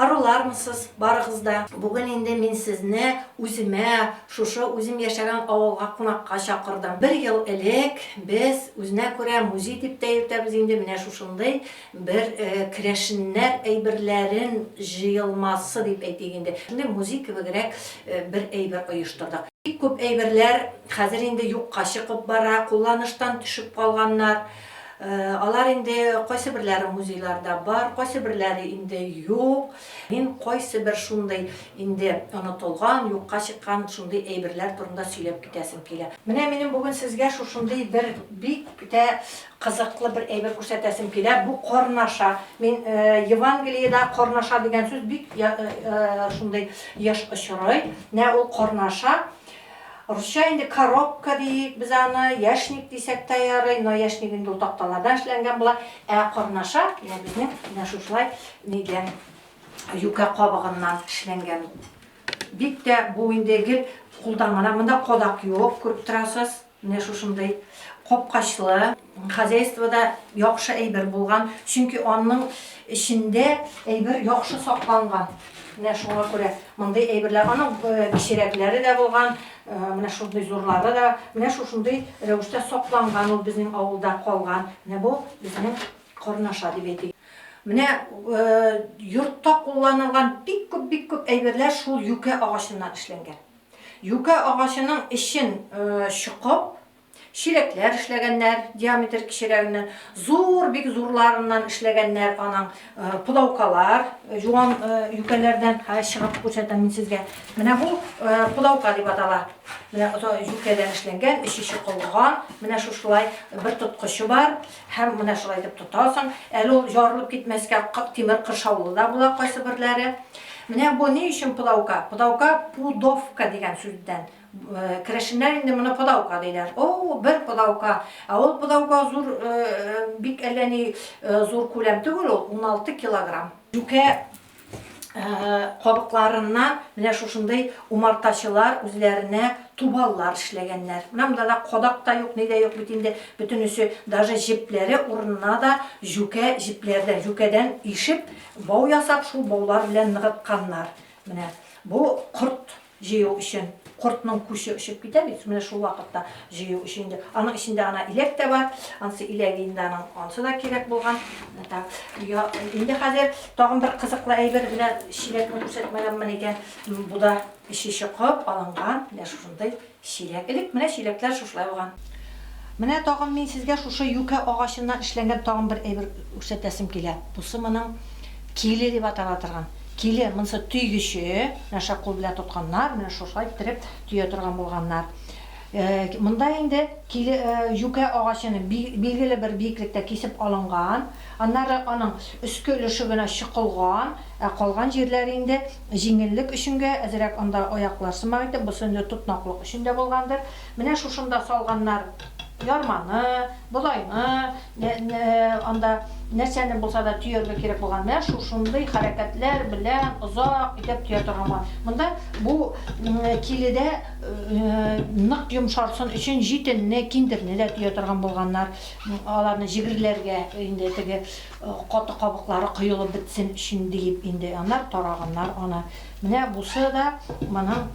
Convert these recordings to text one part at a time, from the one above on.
Арулармысыз, барыгыз да. Бүген инде мин сезне үземә, шушы үзем яшәгән авылга кунакка чакырдым. Бер ел элек без үзенә күрә музей дип тә йөртәбез инде, менә шушындый бер керәшеннәр әйберләрен җыелмасы дип әйтик инде, шундый музей кебегрәк бер әйбер оештырдык. Бик күп әйберләр хәзер инде юкка чыгып бара, кулланыштан төшеп калганнар. Алар инде кайсы берләре музейларда бар, кайсы берләре инде юк. Мин кайсы бер шундый инде онытылган, юкка чыккан шундый әйберләр турында сөйләп китәсем килә. Менә минем бүген сезгә шушындый бер бик тә кызыклы бер әйбер күрсәтәсем килә. Бу карнаша. Мин Евангелиедә карнаша дигән сүз бик шундый еш очрый. Менә ул карнаша. Русча инде коробка диик без аны, яшник дисәк тә ярый, но яшник инде ул такталардан эшләнгән була. Ә корнаша, менә безнең менә шушылай нидән, юкә кабыгыннан эшләнгән. Бик тә бу инде гел кулдан гына, монда кадак юк, күреп торасыз, менә шушындый капкачлы. Хозяйствода яхшы әйбер булган, чөнки аның эчендә әйбер яхшы сакланган. Менә шуңа күрә мондый әйберләр. Аның кечерәкләре дә булган, менә шундый зурлары да. Менә шушындый рәвештә сакланган ул безнең авылда калган. Менә бу безнең карнаша дип әйтик. Менә йортта кулланылган бик күп, бик күп әйберләр шул юкә агачыннан эшләнгән. Юкә агачының эчен чокып, Чиләкләр эшләгәннәр, диаметр кечерәгеннән, зур, бик зурларыннан эшләгәннәр аның пудаукалар, юан юкәләрдән, хәзер чыгып күрсәтәм мин сезгә. Менә бу пудаука дип атала. Менә юкәдән эшләнгән, эче чокылган, менә шушылай бер тоткычы бар, һәм менә шулай итеп тотасың. Әле ул ярылып китмәскә тимер кыршаулы да була кайсы берләре. Менә бу ни өчен пудаука? Пудаука пудовка дигән сүздән. Керәшеннәр инде моны подаука диләр. О, бер подаука. Ә ул подаука зур, бик әллә ни зур күләм түгел ул, 16 килограмм. Юкә кабыкларыннан менә шушындый умартачылар үзләренә тубаллар эшләгәннәр. Менә монда да кадак та юк, ни дә юк бит инде, бөтенесе, даже җепләре урынына да җүкә җепләрдән, җүкәдән ишеп, бау ясап, шул баулар белән ныгытканнар. Менә бу корт Җыю өчен кортның күче очып китә бит, менә шул вакытта җыю өчен инде. Аның эчендә ана иләк тә бар, ансы иләге инде аның, ансы да кирәк булган. Так, я, инде хәзер тагын бер кызыклы әйбер белән чиләкне күрсәтмәгәнмен икән. Бу да эче чокып алынган, менә шушындый чиләк. Элек менә чиләкләр шушылай булган. Менә тагын мин сезгә шушы юкә агачыннан эшләнгән тагын бер әйбер күрсәтәсем килә. Бусы моның киле дип атала торган. Киле, монысы төйгече. Менә шә кул белән тотканнар, менә шушылай иттереп төя торган булганнар. Монда инде киле, юкә агачын билгеле бер биеклектә кисеп алынган. Аннары аның өске өлеше генә чокылган, ә калган җирләре инде җиңеллек өченгә әзрәк анда аяклар сымак итеп, бусы инде тотнаклык өчен дә булгандыр. Менә шушында салганнар ярманы, болайны. Анда нәрсәне булса да төяргә кирәк булган. Менә шушындый хәрәкәтләр белән озак итеп төя торган булган. Монда бу киледә нык йомшарсын өчен җитенне, киндерне дә төя торган булганнар. Аларны җегерләргә инде теге каты кабыклары коелып бетсен өчен диеп инде. Аннары тараганнар аны. Менә бусы да моның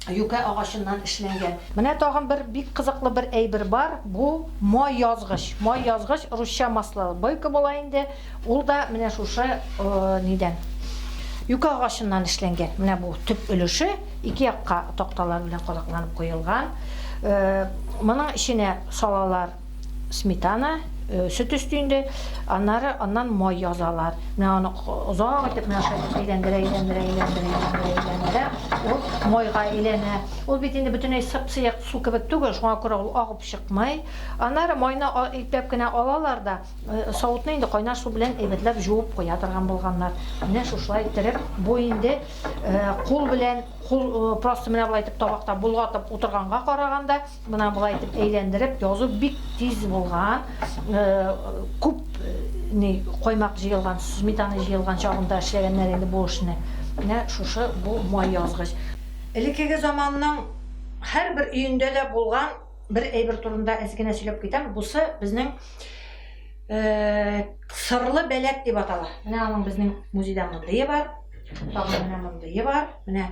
юкә агачыннан эшләнгән. Менә тагын бер бик кызыклы бер әйбер бар, бу май язгыч. Май язгыч, русча масло, бойка була инде, ул да менә шушы нидән, юкә агачыннан эшләнгән. Менә бу төп өлеше ике якка такталар белән кадакланып куелган. Моның эченә салалар сметана, э, сөт өсте инде, аннары аннан май язалар. Менә аны озак итеп менә шулай итеп әйләндерә, әйләндерә, әйләндерә, әйләндерә, әйләндерә. Ул майга әйләнә. Ул бит инде бөтенләй сып-сыек су кебек түгел, шуңа күрә ул агып чыкмый. Аннары майны ипләп кенә алалар да, э, савытны инде кайнар су белән әйбәтләп җуып куя торган булганнар. Менә шушылай иттереп, бу инде э, кул белән, кул э, просто менә болай итеп табакта болгатып утырганга караганда, Менә болай итеп әйләндереп язу бик тиз булган. Күп ни коймак җыелган, сметана җыелган чагында эшләгәннәр инде бу эшне. Менә шушы бу май язгыч. Элеккеге заманның һәрбер өендә дә булган бер әйбер турында әз генә сөйләп китәм. Бусы безнең сырлы бәләк дип атала. Менә аның безнең музейда мондые бар. Тагын менә мондые бар. Менә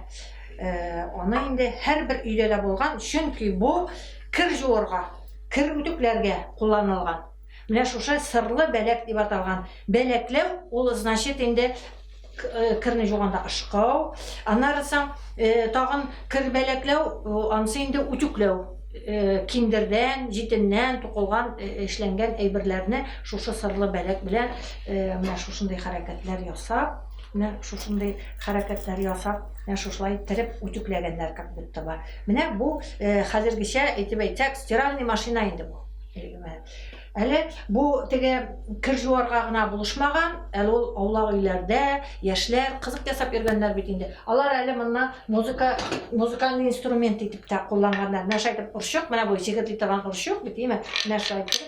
Аны инде һәрбер өйдә дә булган, чөнки бу кер жуырга, кер үтүкләргә кулланылган. Менә шушы сырлы бәләк дип аталган. Бәләкләү ул значит инде керне жуганда ышкау, аннары соң тагын кер бәләкләү, ансы инде үтүкләү. Киндердән, җитеннән тукылган, эшләнгән әйберләрне шушы сырлы бәләк белән менә шушындый хәрәкәтләр ясап, Менә шушындый хәрәкәтләр ясап, менә шушылай иттереп үтүкләгәннәр как будто бы. Менә бу хәзергечә әйтеп әйтсәк, стиральный машина инде бу. Әле бу теге кер жуарга гына булышмаган, әле ул аулак өйләрдә яшьләр кызык ясап йөргәннәр бит инде. Алар әле монны музыка, музыкальный инструмент итеп тә кулланганнар. Менә шайтып орчык, менә бу сигерли торган орчык бит, име? Менә шайтып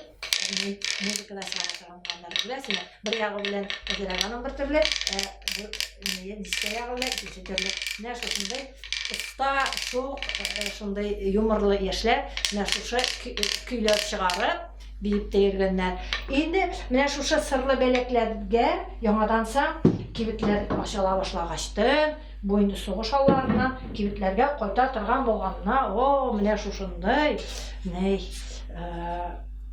музыкада чыгара. Аннары күрәсеңме, бер ягы белән зәрәганың бер төрле, ә бу дискә ягы белән икенче төрле. Менә шушындый оста, шук, шундый юморлы яшьләр менә шушы көйләр чыгарып, биеп тә йөргәннәр. Инде менә шушы сырлы бәләкләргә яңаданса кибетләр ачыла башлагачтын, Бу инде сугыш алларыннан кибетләргә кайта торган булганына, о, менә шушындый, ни,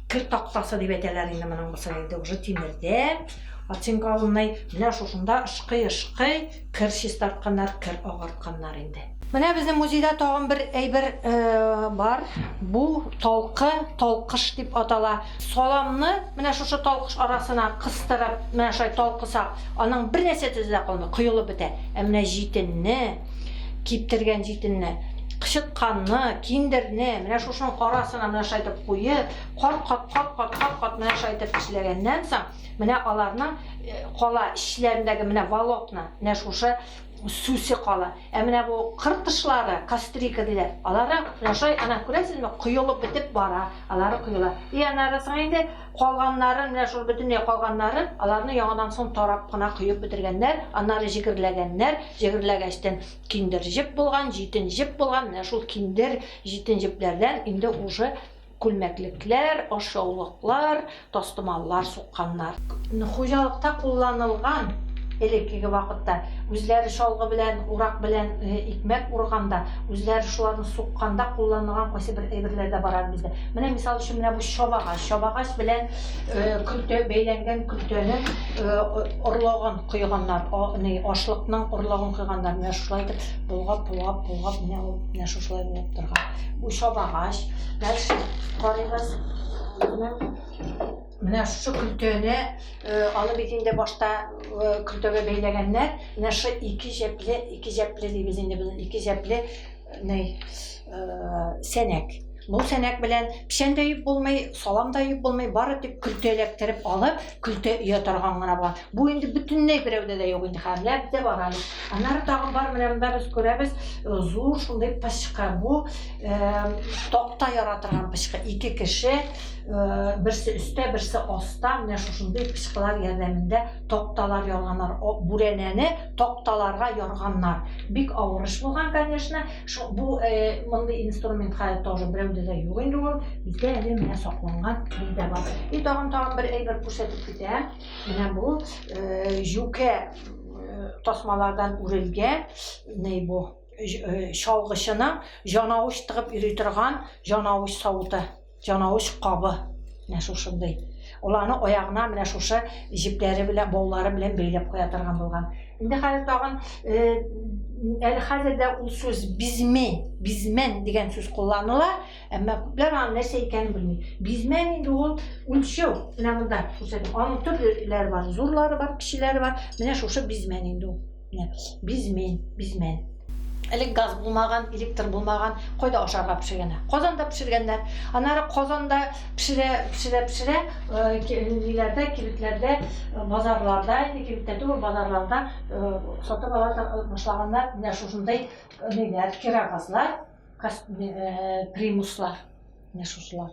кер тактасы дип әйтәләр инде моның бусы инде уже тимердән оцинкованный. Менә шушында ышкый-ышкый кер чистартканнар, кер агартканнар инде. Менә безнең музейда тагын бер әйбер э, бар. Бу толкы, толкыш дип атала. Саламны менә шушы талкыш арасына кыстырып, менә шулай талкысак, аның бер нәрсә төзе дә калмый, коелып бетә. Ә менә җитенне, киптергән җитенне, кычытканны, киндерне менә шушының арасына менә шулай итеп куеп, кат-кат, кат-кат, кат-кат менә шулай итеп эшләгәннән соң, менә аларның э, кала эчләрендәге менә волокна, менә шушы Сүсе кала. Ә менә бу кыр кошлары, кастрика диләр, алары яшай, ана, күрәсезме, коелып бетеп бара, алары коела. И аннары соң инде калганнарын, менә шул бөтенләй калганнарын, аларны яңадан соң тарап кына коеп бетергәннәр, аннары җегерләгәннәр, җегерләгәчтен киндер җеп булган, җитен җеп булган, менә шул киндер, җитен җепләрдән инде уже Күлмәклекләр, ашъяулыклар, тастымаллар сукканнар. Хуҗалыкта кулланылган, элеккеге вакытта, үзләре чалгы белән, урак белән икмәк урганда, үзләре шуларны сукканда кулланылган кайсы бер әйберләр дә бар әле бездә. Менә, мисал өчен, менә бу чабагач. Чабагач белән көлтә, бәйләнгән көлтәнең орлыгын койганнар, ашлыкның орлыгын койганнар. Менә шулай итеп болгап, болгап, болгап, менә ул менә шушылай булып торган. Бу чабагач. Дальше карыйбыз. Менә шушы көлтәне э, аны бит инде башта э, көлтәгә бәйләгәннәр. Менә шушы ике җәпле, ике җәпле дибез инде буны, ике җәпле э, ней сәнәк. Бу сәнәк белән печән дә юып булмый, салам да юып булмый, бары тик көлтә эләктереп алып, Көлтә өя торган гына бар. Бу инде бөтенләй берәүдә дә юк инде хәзер. Ләп дә бар әле. Аннары тагын бар менә монда без күрәбез э, зур шундый пычкы. Бу э, такта яра торган пычкы. Ике кеше э, берсе өстә, берсе аста менә шушындый пычкылар ярдәмендә такталар ярганнар. О, бүрәнәне такталарга ярганнар. Бик авыр эш булган, конечно. Шул бу э, мондый инструмент хәзер тоже берәүдә дә юк инде ул. Бездә әле менә сакланган бездә бар. И тагын тагын бер әйбер күрсәтеп китәм. Менә бу э, җүкә э, тасмалардан үрелгән ни бу э, чалгычының җанавыч тыгып йөри торган җанавыч савыты. Чанавыч кабы менә шушындый. Ул аны аягына менә шушы җепләре белән, баулары белән бәйләп куя торган булган. Инде хәзер тагын э, әле хәзер дә ул сүз бизме, бизмен дигән сүз кулланыла, әмма күпләр аны нәрсә икәнен белми. Бизмен инде ул үлчәү. Менә монда күрсәтеп, аның төрлеләре бар, зурлары бар, кечеләре бар. Менә шушы бизмен инде ул. бизмин бизмин элек газ булмаган электр булмаган кайда ашарга пешергәннәр казанда пешергәннәр аннары казанда пешерә пешерә пешерә ниләрдә кибетләрдә базарларда инде кибеттә түгел базарларда сатып ала башлаганнар менә шушындай ниләр кирогазлар примуслар менә шушылар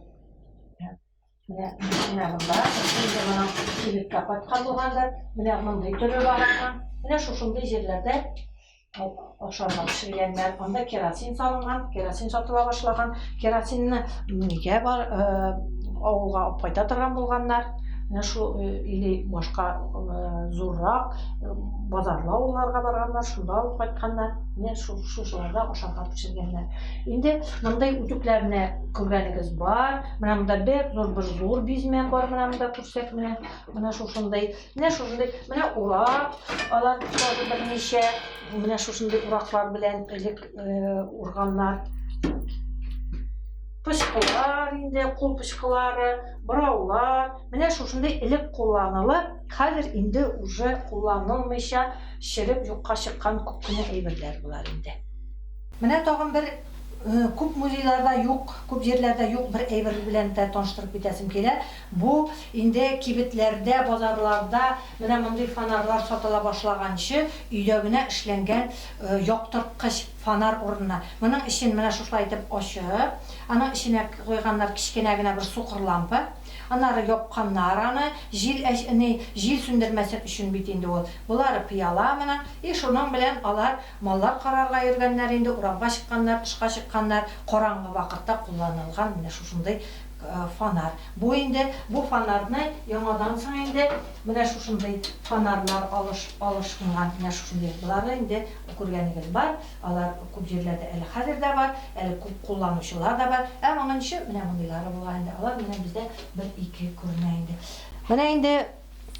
Менә менә монда инде моның кибеткә каткан булгандыр. Менә мондый төре бар икән. Менә шушындый җирләрдә ашарга пешергәннәр. Анда керосин салынган, керосин сатыла башлаган. Керосинны нигә бар авылга алып кайта торган булганнар? Менә шу или башка зуррак базарлы авылларга барганнар, шунда алып кайтканнар. Менә шу шушыларда ашарга пешергәннәр. Инде мондый үтүкләрне күргәнегез бар. Менә монда бер зур бер зур бизмә бар, менә монда күрсәк, менә менә шушындый. Менә шушындый, менә урак, алар тоже берничә, менә шушындый ураклар белән элек э, урганнар. Пычкылар инде, кул пычкылары, бораулар, менә шушындый элек кулланылып, хәзер инде уже кулланылмыйча, шереп юкка чыккан күп кенә әйберләр булар инде. Менә тагын бер Күп музейларда юк, күп җирләрдә юк бер әйбер белән дә таныштырып китәсем килә. Бу инде кибетләрдә, базарларда менә мондый фонарьлар сатыла башлаганчы өйдә генә эшләнгән яктырткыч фонарь урынына моның эчен менә шушылай итеп ачып, аның эченә куйганнар кечкенә генә бер сукыр лампа, аннары япканнар аны, җил әч, ни, җил сүндермәсен өчен бит инде ул. Болары пыяла моның, и шуның белән алар Маллар карарга йөргәннәр инде, урамга чыкканнар, тышка чыкканнар, караңгы вакытта кулланылган менә шушындый фонарь. Бу инде, бу фонарьны яңадан соң инде менә шушындый фонарьлар алыш, алышынган, менә шушындый. Боларны инде күргәнегез бар, алар күп җирләрдә әле хәзер дә бар, әле күп кулланучылар да бар. Ә моның өчен менә мондыйлары булган инде, алар менә бездә бер-ике күренә инде. Менә инде.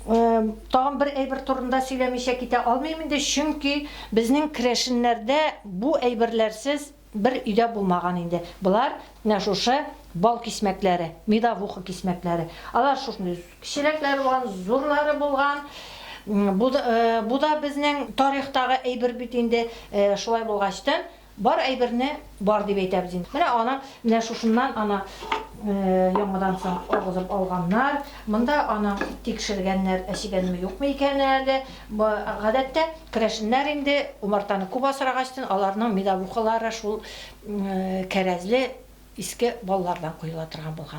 Тагын бер әйбер турында сөйләмичә китә алмыйм инде, чөнки безнең керәшеннәрдә бу әйберләрсез бер өйдә булмаган инде. Болар менә шушы бал кисмәкләре, медовуха кисмәкләре. Алар шушындый кечерәкләре булган, зурлары булган. Бу да безнең тарихтагы әйбер бит инде. Шулай булгач та, Бар әйберне бар дип әйтәбез инде. Менә аны менә шушыннан аны яңадан соң агызып алганнар. Монда аны тикшергәннәр, әчегәнме юкмы икән әле. Гадәттә керәшеннәр инде умартаны күп асрагачтын, аларның медовухалары шул кәрәзле иске баллардан коела торган булган.